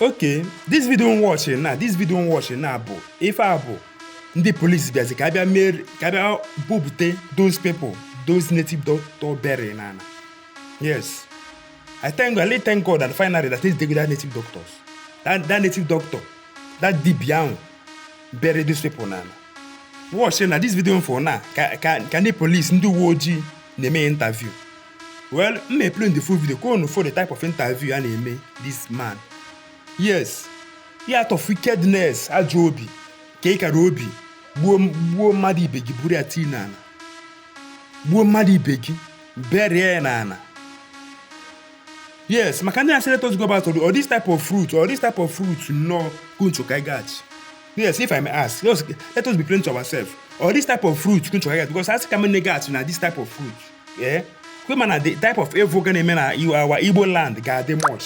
okay this video m watch now this video m watch now bụ ife a bụ ndị police bịazi ka a bịa mee ka a bịa bupute those people those native doctor bury na ana yes i thank god i really thank god that finally that is the that native doctors that, that native doctor that dibia ahụ bury those people na ana watch na this video unu fụ na ka ka ka ndị police ndị uwe ojii na-eme interview well m may play the full video ka unu fụ the type of interview a na-eme this man yes he out of wickedness ajọ obi ka ị kara obi gbuo gbuo mmadụ ibe gị buru ya tii n'ala gbuo mmadụ ibe gị bury ya n'ala yes maka ndị sị let us go back ọ this type of root ọ this type of root nnọọ ka unu chọ ka anyị gaghachi yes if i may ask let us, let us be plain to ourselves ọ this type of root ka unu chọ ka anyị gaghachi because a sị ka anyị nine gaghachi na this type of root ee kwema na the type of evil ga na-eme na our Igbo land ga-adị much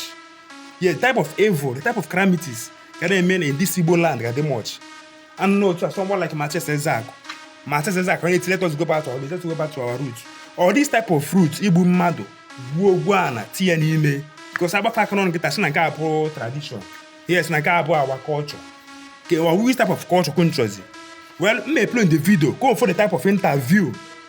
yes type of evil the type of calamities ga na-eme na this Igbo land ga-adị much and no otu a someone like Matias Ezeaku Matias Ezeaku onye let us go back to our let us go back to our roots ọ this type of root igbu mmadụ gbuo gwuo ana tinye n'ime because ọ bụ ife a ka a na-anụ kịta sị na nke a bụ our tradition yes na nke a bụ our culture ke which type of culture ka unu chọzi well m may play the video ka unu fụ the type of interview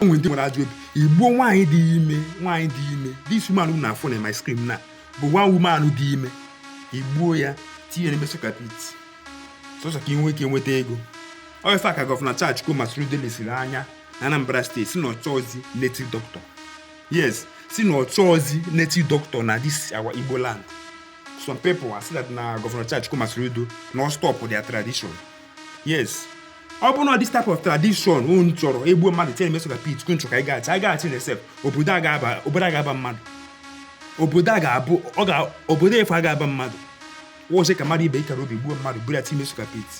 o nwere ndị nwere ajọ obi egbuo nwaanyị dị ime nwaanyị dị ime this woman unu na-afụ na my screen now bụ one woman dị ime egbuo ya tinye n'ime soak pit sọsọ ka ị nwee ike nweta ego ọ ife a ka Governor Charles Chukwuma Soludo lesiri anya na Anambra State sị na ọ chọzi native doctor yes sị na ọ chọzi native doctor na this our Igbo land some people are saying that na Governor Charles Chukwuma Soludo na ọ stop their tradition yes ọ bụrụ na this type of tradition unu chọrọ egbuo mmadụ tinye n'ime soak pit ka unu chọrọ ka anyị gaghachi anyị gaghachi na sef obodo a ga-aba obodo a ga-aba mmadụ obodo a ga-abụ ọ ga obodo efu a ga-aba mmadụ watchie ka mmadụ ibe i kara obi gbuo mmadụ buru ya tinye n'ime soak pit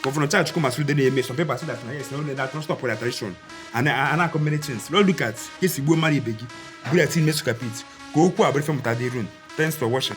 Governor Charles Chukwuma Soludo na-eme some people say that na yes na only that stop their tradition and and akọ many things now look at ka e si gbuo mmadụ ibe gị buru ya tinye n'ime soak pit ka okwu a bụrụ ife mmụta dịrị unu thanks for watching